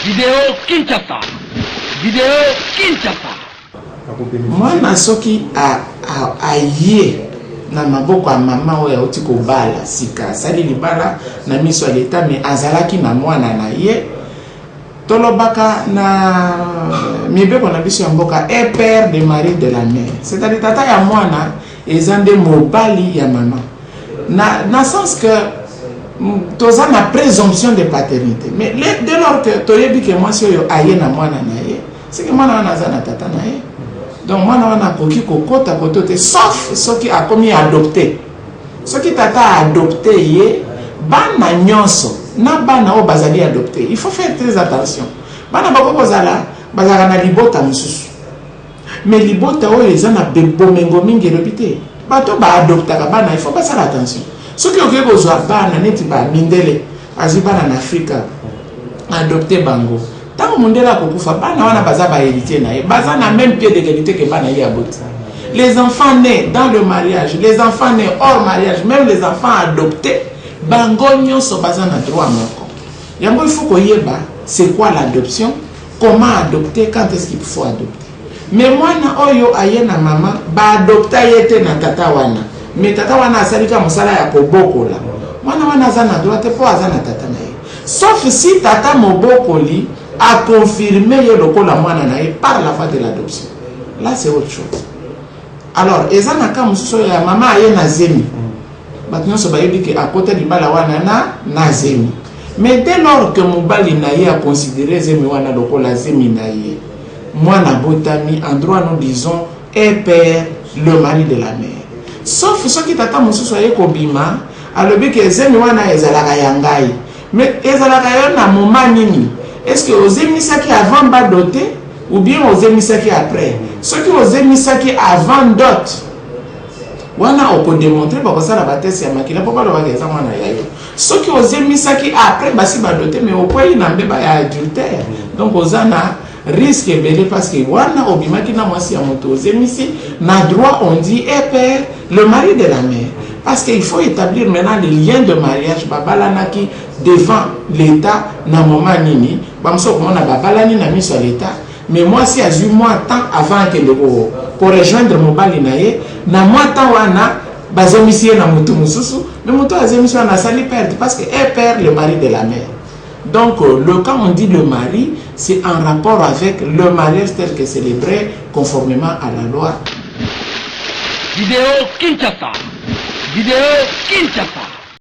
Video Kinshasa. Video Kinshasa. Mwana soki aye na maboko ya mama oyo auti kobala sika asali libala na miso ya leta me azalaki na mwana na ye tolobaka na mibeko na biso ya mboka epere de marie de la mer c'est-à-dire tata ya mwana Eza nde mobali ya maman na na sens que toza na presomption de paternite mais dès lors que toyebi ke mwasi oyo aye na mwana na ye seke mwana wana aza na tata na ye donc mwana wana akoki kokota koto te sauf soki akomi adopte soki tata aadopte ye bana nyonso na bana oyo bazali adopte il faut faire très attention bana bakoki kozala bazalaka na libota mosusu Mais libota oyo eza na bomengo mingi elobi te bato oyo ba adoptaka bana il faut basala attention soki oke kozwa bana neti ba mindele azwi bana na afrika adopte bango ntango mondele akokufa bana wana baza ba héritier na ye baza na même pied d'égalité ke bana ye aboti les enfants nés dans le mariage les enfants nés hors mariage même les enfants adoptés bango nyonso baza na droit moko yango il faut koyeba c'est quoi l'adoption Comment adopter quand est-ce qu'il faut adopter? Mais mwana oyo aye na mama ba adopta ye te na tata wana mais tata wana asali kaka mosala ya kobokola mwana wana aza na droit te po aza na tata na ye sauf si tata mobokoli a confirme ye lokola mwana na ye par la voie de l'adoption là c'est autre chose alors eza na cas mosusu oyo ya mama aye na zemi Bato nyonso bayebi ke akota libala wana na na zemi. Mais dès lors que mobali na ye a considere zemi wana lokola zemi na ye, mwana abotami, en droit nous disons est père le mari de la mère. Sauf soki tata mosusu aye kobima alobi ke zemi wana ezalaka ya ngai. Mais ezalaka ya yo na moment nini? Est-ce que ozemisaki avant ba doter ou bien ozemisaki après? Soki ozemisaki avant dot, wana okodemontre bakosala batese ya makila mpo balobaka eza mwana ya yo soki ozemisaki après basi badote me okwei na mbeba ya adultère mm. donc oza na risque ebele parce que wana obimaki na mwasi ya moto ozemisi na droit on dit epere eh, le mari de la mère parce que il faut établir maintenant les liens de mariage babalanaki devant l'état na moment nini bamosusu okomona babalani na miso ya l'état Mais mwasi azui mwa temps avant akende ko ko rejoindre mobali na ye, na mwa temps wana bazemisi ye na mutu mususu, mais mutu oyo azemisi wana asali perte parce que elle perd le mari de la mère. Donc le quand on dit le mari c'est en rapport avec le mariage tel que celebre conformement à la loi. Video Kinshasa! Video Kinshasa!